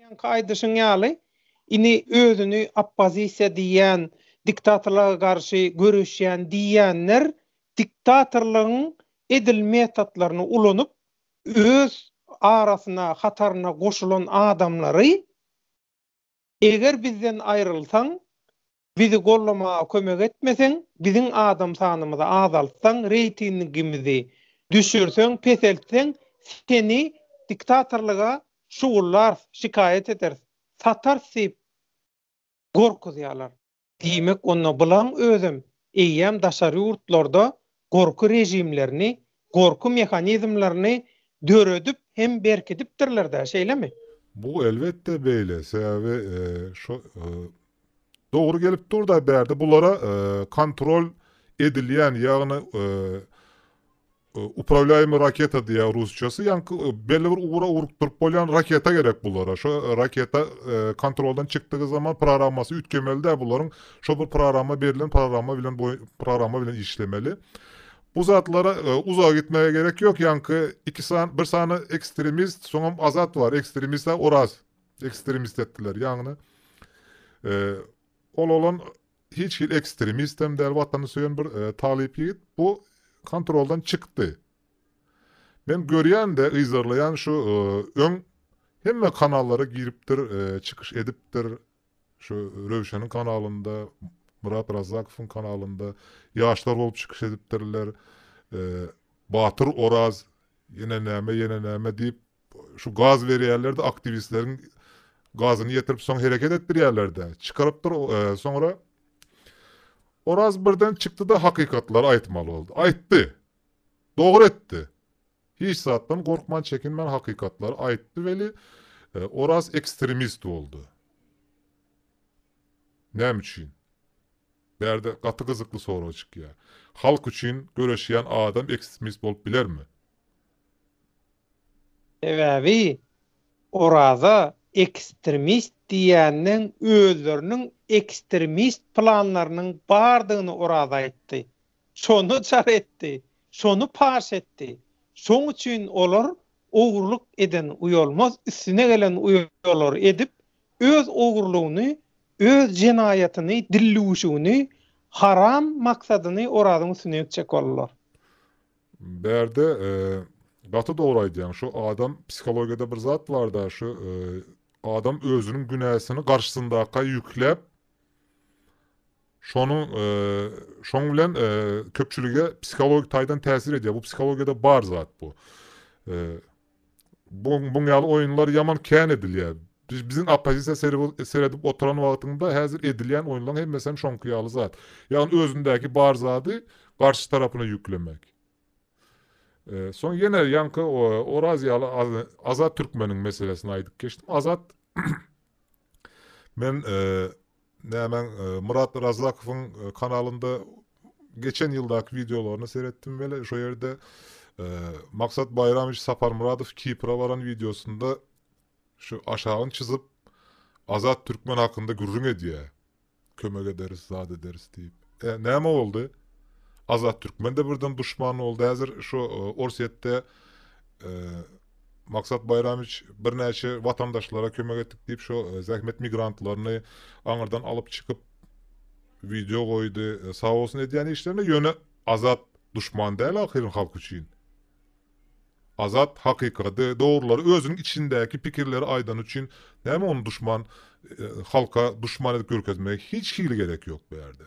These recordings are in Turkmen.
Öňki aýdyşyň ýaly, ini özüni oppozisiýa diýýän, diktatorlyga garşy göreşýän diýýänler diktatorlygyň edil metotlaryny ulanyp, öz arasyna, hataryna goşulan adamlary eger bizden aýrylsaň, Bizi gollamaga kömek etmeseň, biziň adam sanymyzy azaltsaň, reýtingimizi düşürseň, peseltseň, seni diktatorlyga şugullarys, şikaýat ederis, satarys diýip gorkuzýarlar. Diýmek, onda bulaň özem eýýäm daşary ýurtlarda gorky režimlerini, gorky mehanizmlerini döredip hem berkidipdirler-dä, şeýlemi? Bu, elbetde, beýle. Sebäbi şu dogry gelip dur-da, bärde bulara kontrol edilýän, ýagny upravlýaýmy raketa diýýär rusçasy, ýaňky belli bir ugra urukdyryp bolýan raketa gerek bulara. Şo raketa kontroldan çykdygy zaman programmasy üýtgemeli-dä bularyň. Şol bir programma berilen programma bilen bu programma bilen işlemeli. Bu zatlara e, uzağa gitmeye gerek yok. Yankı iki san, bir sany ekstremist, soňam azat var. Ekstremist de oraz. Ekstremist ettiler. Yani e, ol olan hiç hil ekstremist hem değil vatanı söyen bir e, talip yiğit. Bu kontroldan çıktı. Ben görýän de yzarlaýan şu e, öň hemme kanallara giripdir, e, çykyş edipdir. Şu Röwşeniň kanalynda, Myrat Razzakowyň kanalynda ýaşlar bolup çykyş edipdirler. Batyr Oraz ýene näme, ýene näme diýip, şu gaz berýärler-de, aktiwistleriň gazyny ýetirip, soň hereket etdirýärler-de, çykarypdyr. Soňra Oraz birden çykdy-da, hakykatlary aýtmaly boldy. Aýtdy. Dogry etdi. Hiç zatdan gorkman çekinmän hakykatlary aýtdy weli Oraz ekstremist boldy. Näme üçin? Bärde gaty gyzykly sorag çykýa. Halk üçin göreşýän adam ekstremist bolup bilermi? Sebäbi Oraza ekstremist diýenden özleriniň ekstremist planlarynyň bardygyny Oraz aýtdy. Şony jar etdi, şony paş etdi. Şoň üçin olar ogurlyk eden uýalmaz, üstüne gelen uýalar edip, öz ogurlygyny, öz jenaýatyny, dillüwüşigini, haram maksadyny Orazyň üstüne ýükjek boldular. Bärde gaty dogry aýdýaň şu adam psihologiýada bir zat barda şu adam özüniň günäsini garşysyndaka ýükläp Şonuň şoň bilen köpçülige psihologik taýdan täsir edýär. Bu psihologiýada bar zat bu. Bu buň ýaly oýunlar ýaman kän edilýär. Biz biziň oppozisiýa seredip oturan wagtynda häzir edilýän oýunlaryň hemmesi hem şoňky ýaly zat. Ýagny özündäki bar zady garşy tarapyna ýüklemek. Soň ýene ýaňky Oraz ýaly Azat Türkmeniň meselesini aýdyp geçdim. Azat men Nämäň Myrat Razzakowyň kanalynda geçen ýyldaky wideolaryny seretdim weli şo ýerde Maksat Baýramowiç Saparmyradow Kipra baran wideosynda şu aşagyny çyzyp Azat Türkmen hakynda gürrüň edýär. Kömek ederis, zat ederis diýip. E, näme boldy? Azat Türkmen-de birden duşman boldy. Häzir şu Orsýetde Maksat Baýramiç birnäçe watandaşlara kömek etdik diýip şo zähmet migrantlaryny aňyrdan alyp çykyp wideo goýdy. Sag bolsun edýän işlerine ýöne Azat duşman däl ahyryn halk üçin. Azat hakykady, dogrulary özüniň içindäki pikirleri aýdany üçin näme ony duşman halka duşman edip görkezmegi hiç hili gerek ýok bu ýerde.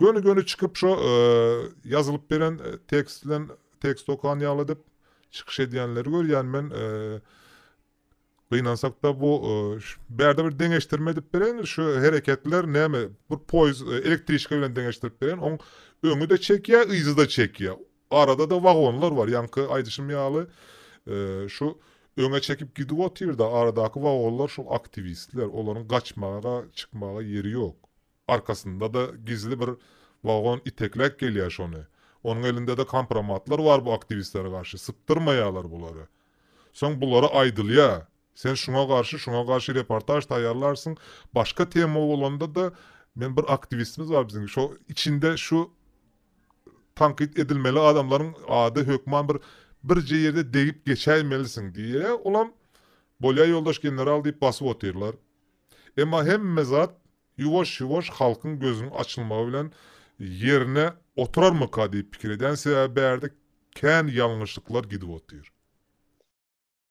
Göni göni çykyp şo ýazylyp beren tekst bilen tekst okan ýaly edip çykyş edýänleri görýän men gynansakda bu bärde bir deňeşdirme edip bereýin şu hereketler näme bir poýz elektriçka bilen deňeşdirip bereýin oň öňi de çekýä yzy da çekýä arada da wagonlar bar ýaňky aýdyşym ýaly şu öňe çekip gidip otyrda aradaky wagonlar şol aktiwistler olaryň gaçmaga çykmaga ýeri ýok Arkasynda-da gizli bir wagon itekläp gelýär şony. Onuň elinde-de kompromatlar bar bu aktiwistlere garşy. Sypdyrmaýarlar bulary. Soň bulara aýdylýar, Sen şuňa garşy, şuňa garşy reportaž taýýarlarsyň. Başga tema bolanda-da, men bir aktiwistimiz bar biziň, şo içinde şu tankyt edilmeli adamlaryň ady hökman bir birje ýerde degip geçäýmelisiň diýýär. Olam, Bolýar ýoldaş general diýip basyp otyrlar. Emma hemme zat Ýuwaş-ýuwaş halkyň gözüniň açylmagy bilen ýerine oturarmyka diýip pikir edýän, sebäbi bärde kän ýalňyşlyklar gidip otyr.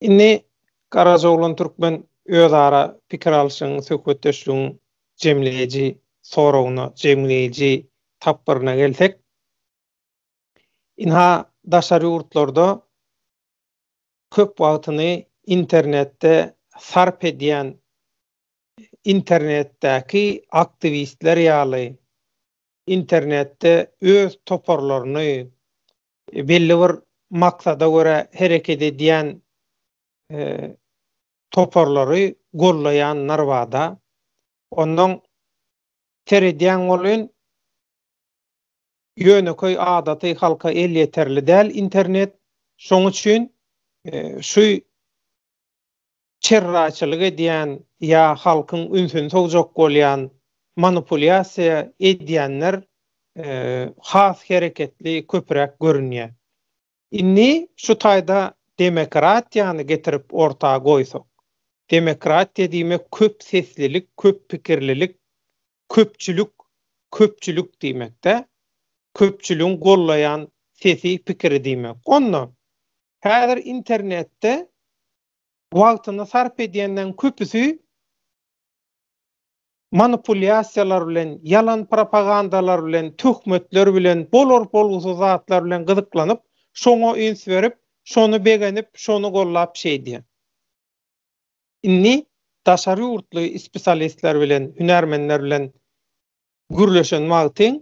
Indi Garajoglan türkmen özara pikir alşyň, söhbetdeşligiň jemleýji soragyna, jemleýji tapgyryna gelsek, ynha daşary ýurtlarda köp wagtyny internetde sarp edýän internetdäki aktiwistler ýaly internetde öz toparlaryny belli bir maksada görä hereket edýän toparlary gollaýanlar bada ondan seredýäň bolyn ýönekeý adaty halka elýeterli däl internet şoň üçin şu çerraçylyk edýän ýa halkyň ünsüni sowjak bolýan manupulýasiýa edýänler has hereketli köpüräk görünýär. Indi şu taýda demokratiýany getirip orta goýsak. Demokratiýa diýmek köp seslilik, köp pikirlilik, köpçülik, köpçülik diýmekdä. Köpçüligiň gollaýan sesi, pikiri diýmek. Onda häzir internetde wagtyny sarp edýänleriň köpüsi manipulýasiýalar bilen, ýalan propagandalar bilen, töhmetler bilen, bolar-bolgusyz zatlar bilen gyzyklanyp, şoňa üns berip, şony begenip, şony gollap şeýdýär. Indi daşary ýurtly ispitalistler bilen, hünärmenler bilen gürleşen wagtyň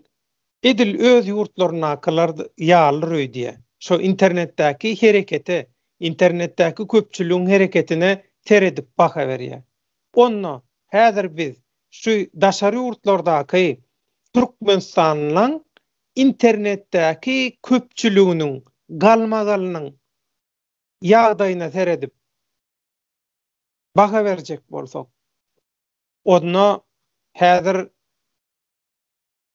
edil öz ýurtlaryndakylar ýalydyr öýdýä. Şo internetdäki herekete, internetdäki köpçüligiň hereketine seredip baha berýä. Onda häzir biz şu daşary ýurtlardaky türkmenistanlylaň internetdäki köpçüliginiň galmagalynyň ýagdaýyna seredip baha berjek bolsak, Onda häzir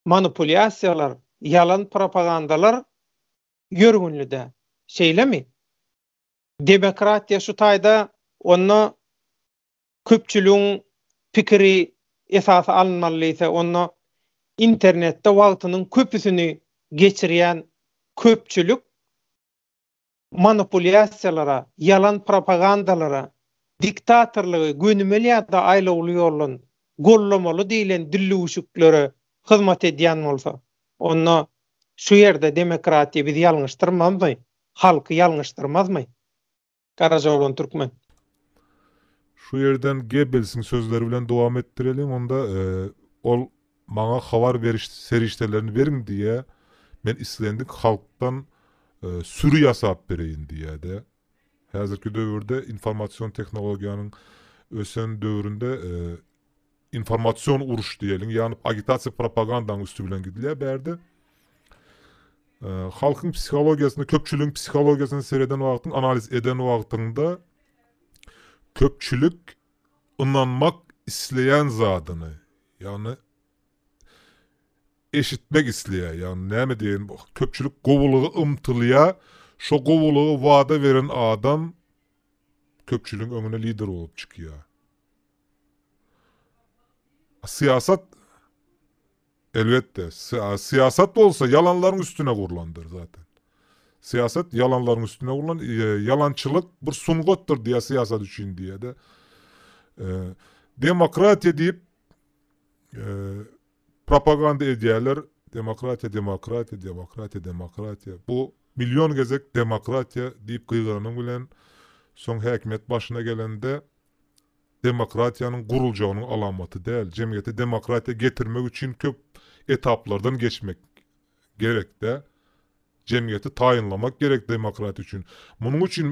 manipulýasiýalar, ýalan propagandalar ýörgünli-dä, şeýlemi? Demokratiýa şu taýda onda köpçüligiň pikiri esas alynmaly diýse, onda internetde wagtynyň köpüsini geçirýän köpçülik manipulýasiýalara, ýalan propagandalara, diktatorlygy gönümel ýa-da aýlawly ýoldan gollamaly diýlen dillüwşüklere hyzmat edýän bolsa, onda şu ýerde demokratiýa bizi ýalňyşdyrmazmy, halky ýalňyşdyrmazmy? Garajaoglan Türkmen. Şu ýerden Gebbelsiň sözleri bilen dowam etdireliň, onda e, ol maňa habar beriş serişdelerini beriň diýýä. Men islendik halkdan e, süri ýasap bereýin diýýä-de. Häzirki döwürde informasion tehnologiýanyň ösen döwründe e, Informasion uruş diýeliň ýagny agitasiýa propagandaň üsti bilen gidilýär bärde. Halkyň psihologiýasyna köpçüligiň psihologiýasyna sereden wagtyň analiz eden wagtyňda köpçülik ynanmak isleýän zadyny ýagny eşitmek isleýär ýagny näme diýen köpçülik gowulyga ymtylýar şo gowulygy wada beren adam köpçüligiň öňüne lider bolup çykýar Syýasat Elbetde, syýasat bolsa ýalanlaryň üstüne gurlandyr zaten. Syýasat ýalanlaryň üstüne gurlan, ýalançylyk bir sungatdyr diýýär syýasat üçin diýýär-de. Demokratiýa diýip propaganda edýärler. Demokratiýa, demokratiýa, demokratiýa, demokratiýa. Bu million gezek demokratiýa diýip gygyranyň bilen soň häkimiýet başyna gelende demokratiýanyň guruljagynyň alamaty däl. Jemgyýete demokratiýa getirmek üçin köp etaplardan geçmek gerek-de. Jemgyýeti taýynlamak gerek demokratiýa üçin. Munuň üçin,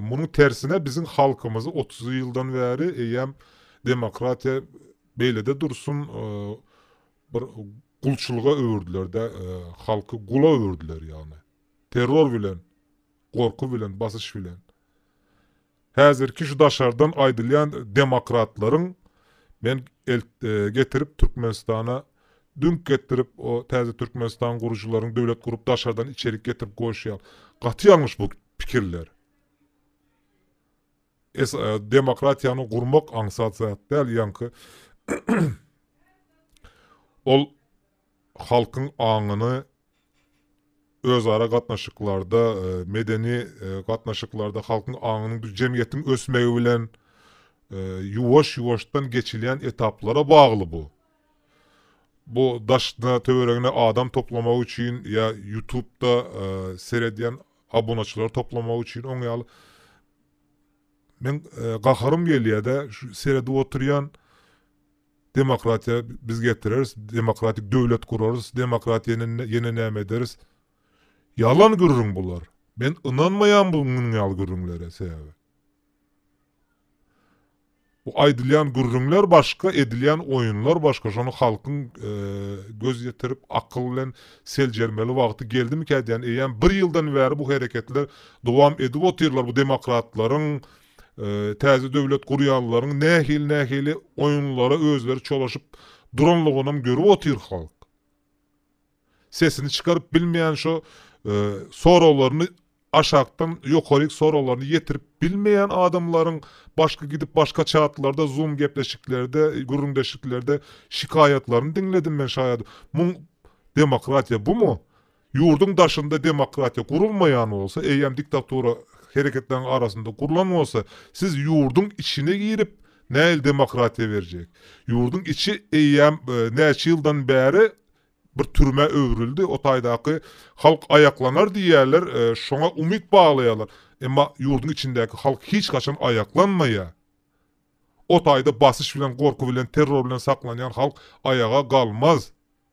munuň tersine biziň halkymyzy otuz ýyldan bäri eýýäm demokratiýa beýlede dursun, bir gulçulyga öwürdiler-de, halky gula öwürdiler ýagny. Terror bilen, gorky bilen, basyş bilen. Häzirki şu daşardan aýdylýan demokratlaryň men getirip Türkmenistana düňk getirip o täze Türkmenistan gurujylaryň döwlet gurup daşardan içerik getirip goýuşýan gaty ýalňyş bu pikirler. Demokratiýany gurmak aňsat zat däl ýaňky ol halkyň aňyny özara gatnaşyklarda, medeni gatnaşyklarda halkyň aňynyň bir jemgyýetiň ösmegi bilen ýuwaş-ýuwaşdan geçilýän etaplara bagly bu. Bu daşyna, töweregine adam toplamak üçin ýa Ýutubda seredýän abunaçylary toplamak üçin oň ýaly Men gaharym gelýär-de, şu seredip oturýan Demokratiýa biz getireris, demokratik döwlet gurarys, demokratiýa ýene näme ederis. Ýalan gürrüň bular. Men ynanmaýan bu munuň ýaly gürrüňlere sebäbi. Bu aýdylýan gürrüňler başga, edilýän oýunlar başga. Şony halkyň göz ýetirip, akyl bilen seljermeli wagty geldimikä diýýän. Eýýäm bir ýyldan bäri bu hereketler dowam edip otyrlar. Bu demokratlaryň täze döwlet gurýanlaryň nähili-nähili oýunlara özleri çolaşyp duranlygynam görüp otyr halk. Sesini çykaryp bilmeýän şo soraglaryny aşakdan ýokaryk soraglaryny ýetirip bilmeýän adamlaryň başky gidip başka çatlarda zoom gepleşiklerde gürrüňdeşliklerde şikaýatlaryny diňledim men şaýadym. Muň demokratiýa bumy? Ýurduň daşynda demokratiýa gurulmaýan bolsa, eýýäm diktatura hereketleriň arasynda gurlan bolsa, siz ýurduň içine girip, nähili demokratiýa berjek? Ýurduň içi eýýäm näçe ýyldan bäri bir türmä öwrüldi. O taýdaky halk aýaklanar diýýärler, şoňa umyt baglaýarlar. Emma ýurduň içindäki halk hiç haçan aýaklanmaýar. O taýda basyş bilen, gorky bilen, terror bilen saklanýan halk aýaga galmaz.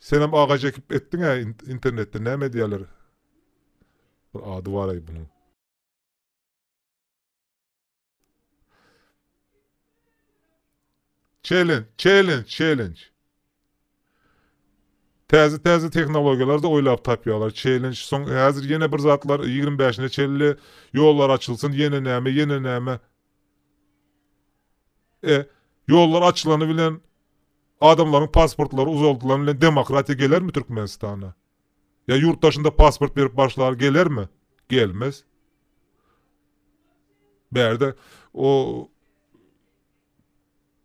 Senem agaç ekip etdiňä internetde näme diýerler bir ady baraý bunuň. Challenge, challenge, challenge. Täze täze tehnologiýalar da oýlap tapýarlar. Challenge soň häzir ýene bir zatlar 25-ne çelli ýollar açylsyn, ýene näme, ýene näme. E, ýollar açylany bilen Adamlaryň pasportlary uzaldylan bilen demokratiýa gelermi Türkmenistana? Ýa ýurt daşynda pasport berip başlar gelermi? Gelmez. Bärde o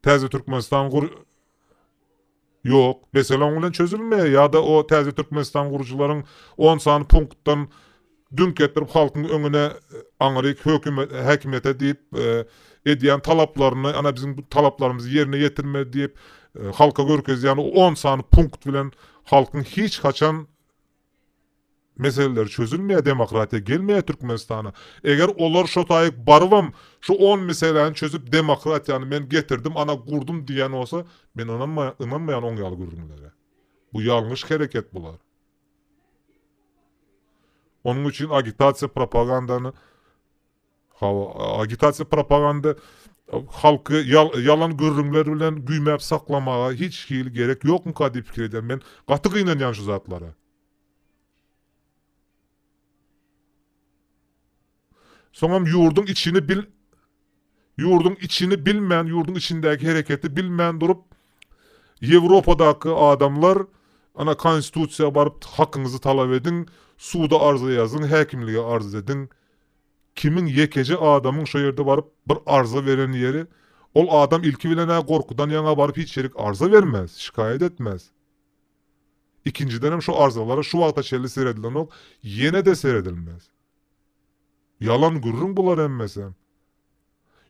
Täze Türkmenistan gur Ýok, mesele oň bilen çözülmeýär ýa-da o Täze Türkmenistan gurujylaryň on sany punktdan Düňk getirip halkyň öňüne aňryk häkimiýete diýip edýän talaplaryny ana biziň bu talaplarymyzy ýerine ýetirme diýip halka görkezýän o on sany punkt bilen halkyň hiç haçan meseleleri çözülmeýär demokratiýa gelmeýär Türkmenistana. Eger olar şo taýyk barybam şu on meseläni çözüp demokratiýany men getirdim ana gurdum diýen bolsa men ynanmaýan oň ýaly gürrüňlere. Bu ýalňyş hereket bular. Onuň üçin agitasiýa propagandany Hawa, agitasiýa propaganda halky ýalan gürrüňler bilen güýmäp saklamaga hiç hili gerek ýokmyka diýip pikir edýän. Men gaty gynanýan şu zatlara. Soňam ýurduň içini bil ýurduň içini bilmän, ýurduň içindäki hereketi bilmän durup, Ýewropadaky adamlar, ana, Konstitusiýa baryp hakyňyzy talap ediň, suda arza ýazyň, häkimlige arz ediň. Kimiň ýekeje adamyň şo ýerde baryp bir arza beren ýeri, ol adam ilki bilen-ä gorkudan ýaňa baryp hiç ýerik arza bermez, şikaýat etmez. Ikinjidenem şo arzalara şu wagta çenli seredilenok, ýene-de seredilmez. Ýalan gürrüň bular hemmesi.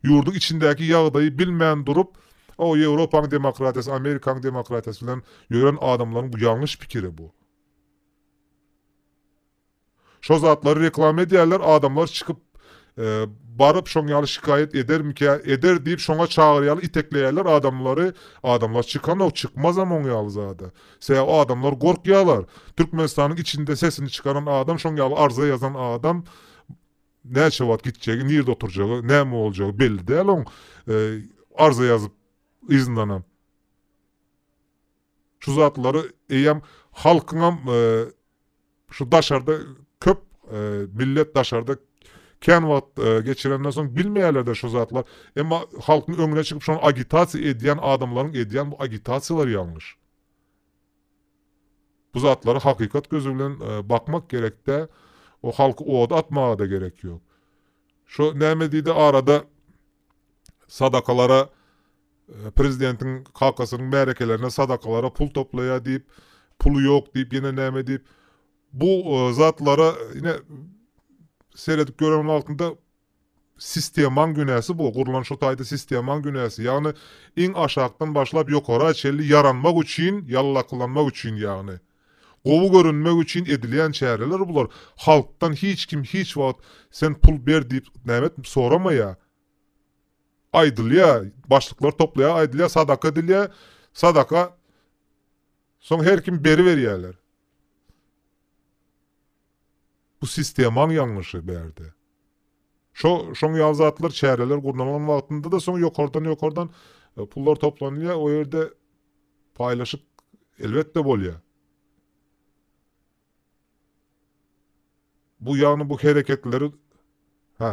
Ýurduň içindäki ýagdaýy bilmän durup, o Ýewropaň demokratiýasy, Amerikaň demokratiýasy bilen ýören adamlaryň bu ýalňyş pikiri bu. Şo zatlary reklama edýärler, adamlar çykyp baryp şoň ýaly şikaýat edermikä, eder diýip şoňa çagyrýarlar, itekleýärler adamlary, adamlar çykanok, çykmazam oň ýaly zada. Sebäbi adamlar gorkýalar. Türkmenistanyň içinde sesini çykaran adam şoň ýaly arza ýazan adam näçe wagt gitjegi nirde oturjagy näme boljagy belli däl oň arza ýazyp yzyndanam şu zatlary eýýäm halkyňam Şu daşarda köp millet daşarda kän wagt geçirenden soň bilmeýärler-de şu zatlar. Emma halkyň öňüne çykyp şony agitasiýa edýän adamlaryň edýän bu agitasiýalary ýalňyş. Bu zatlara hakykat gözi bilen bakmak gerekde, o halky oda atmaga-da gerek ýok. Şo näme diýdi arada sadakalara prezidentiň kakasynyň märekelerine sadakalara pul toplaýar diýip, puly ýok diýip, ýene näme diýip, bu e, zatlara ine seredip gören wagtynda sistemaň günäsi bu. Gurlan şu taýda sistemaň günäsi. Ýagny iň aşakdan başlap ýokara çenli ýaranmak üçin, ýallakylanmak üçin ýagny. Gowy görünmek üçin edilýän çäreler bular, halkdan hiç kim hiç wagt sen pul ber diýip nämet soramaýa, aýdylýa, başlyklar toplaýa aýdylýa sadaka edilýä, sadaka soň her kim beriberýäler. Bu sistemaň ýalňyşy bärde. Şo şoň ýaly zatlar çäreler gurnalan wagtynda-da soň ýokardan ýokardan e, pullar toplanylýar, o ýerde paýlaşyk elbetde bolýar. Bu ýagny bu hereketleri ha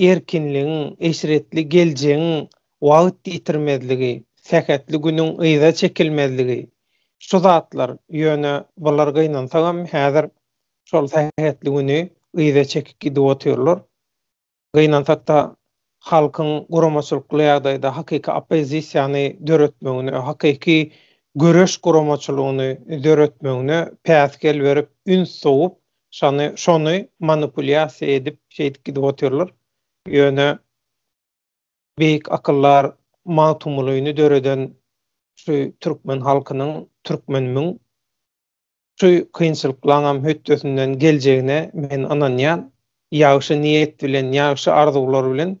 erkinligiň, eşretli geljegiň wagt ýitirmezligi, sähetli günüň yza çekilmezligi, şu zatlar, ýöne bular gynansagam häzir şol sähetli güni yza çekip gidip otyrlar. Gynansakda halkyň guramaçylykly ýagdaýda hakyky oppozisiýany döretmegine, hakyky göreş guramaçylygyny döretmegine päsgel berip, üns sowup, Şony şony manipulýasiýa edip şeýdip gidip otyrlar. Ýöne beýik akyllar Magtymgulyny döreden şu türkmen halkynyň türkmen müň şu kynçylyklaňam hötdesinden geljegine men ynanýan. Ýagşy niýet bilen ýagşy arzuwlar bilen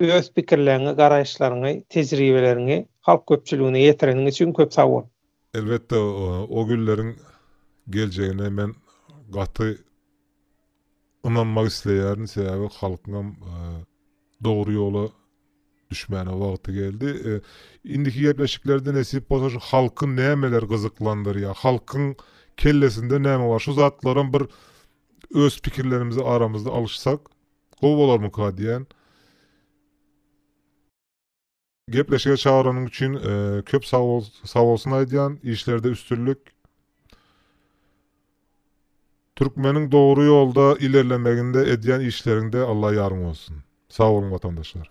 Öz pikirleriňi, garaýyşlaryňy, tejribeleriňi halk köpçüligine ýetireniň üçin köp sag bol! Elbetde o günleriň geljegine men gaty ynanmak isleýärin, sebäbi halkyňam dogry ýola düşmäne wagty geldi. Indiki gepleşiklerde nesip bolsa şu halky nämeler gyzyklandyrýar, halkyň kellesinde näme bar şu zatlaram bir öz pikirlerimizi aramyzda alyşsak. Gowy bolarmyka diýän. Gepleşige çagyranyň üçin köp sag bol, sag bolsun aýdýan. Işlerde üstünlik. Türkmeniň dogry ýolda ilerlemeginde edýän işleriňde Allah ýaryň bolsun. Sag boluň watandaşlar.